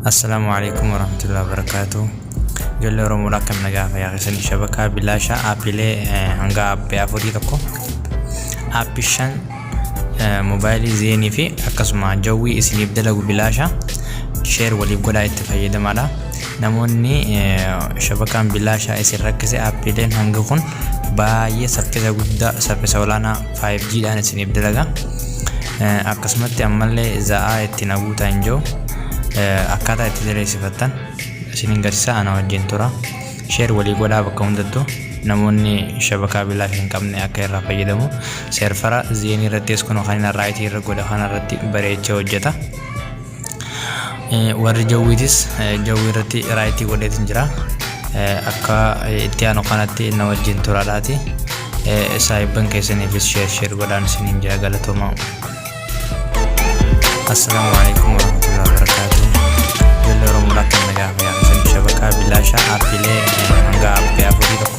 Assalaamu alaikum warahmatullahi wabarakatuh. Ijoollee Oromoodha akkam nagaa fayyaa keessanii shabakaa bilaashaa aappiilee eh, hanga aappii afurii tokko aappii shan eh, moobaayilii zeenii fi akkasuma jawwii isiniif dalagu bilaashaa sheer waliif godhaa itti fayyadamaadha. Namoonni eh, shabakaan bilaashaa isin rakkise aappiileen hanga kun baay'ee saffisa guddaa saffisa olaanaa 5G dhaan isiniif dalaga akkasumatti ammallee za'aa itti naguutaa hin jiru akkaataa itti diriirsifattan isiniin garsiisaa ana wajjin tura sheer walii godhaa bakka hundattuu namoonni shabakaa bilaa hin qabne akka irraa fayyadamu seerfara zeenii irrattis kun kan inni irraa irra godha kana irratti bareecha hojjeta. Warri jawwiitis jawwii irratti raayitii godheetiin jira. Akka itti aanu kanatti na wajjin turaadhaati. Saahibban keessaniifis sheer sheer godhaan isiniin jaa galatooma. Assalaamu alaikum warahmatullahi wabarakatuh. Jalli Oromoo Lakkii Nagaa Fayyaa Keessaniif Shabakaa Bilaashaa Aappiilee Hangaa Aappii Afurii Tokko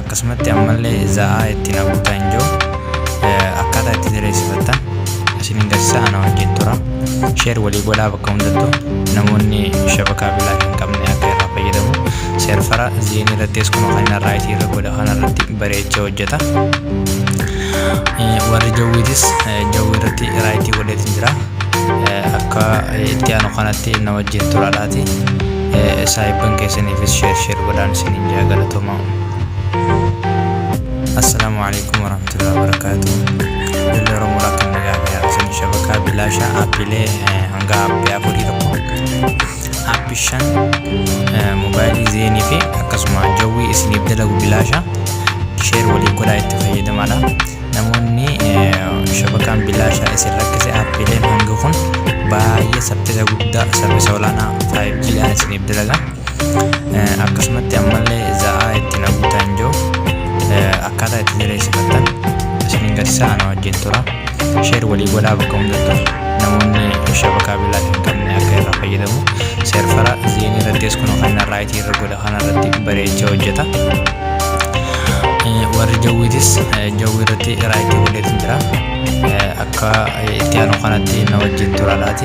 akkasumatti ammallee za'aa itti naquuta hin jiru akkaataa itti sireessifattan isin hin garsiisa ana wajjin tura sheer walii godhaa bakka hundattu namoonni shabakaa bilaa hin qabne akka irraa fayyadamu seerfara zeenii irrattis kun kan irraa itii irra godha kan irratti bareecha hojjeta warri jawwiitis jawwii irratti raayitii godheetiin jira akka itti aanu kanatti na wajjin turaadhaati saahibban keessaniifis sheer sheer godhaan isiniin jaa galatoomaa assalaamu alaikum warahmatullahi wabarakaatuh Abdullee Oromoo Rakkan Nagaa Biyyaa Isin Shabakaa Bilaashaa Appilee hanga appii afurii tokko appi shan moobaayilii zeenii fi akkasuma jawwii isiniif dalagu bilaashaa sheer waliin godhaa itti fayyadamaadha. namoonni shabakaan bilaashaa isin rakkise aappiileen hangi kun baay'ee saffisa guddaa saffisa olaanaa 5G dhaan isiniif dalaga akkasumatti ammallee za'aa itti naguuta hin jiru akkaataa itti jireessifattan isin garsaa na wajjin tura sheer walii godhaa bakka hundattu namoonni shabakaa bilaashaa hin qabne akka irraa fayyadamu seerfara zeenii irrattis kun kan irraa itii irra godha Kana irratti bareecha hojjeta. Warri jawwiitis jawwii irratti irraa itti godheetu jira. Akka itti aanu kanatti na wajjin tura laati.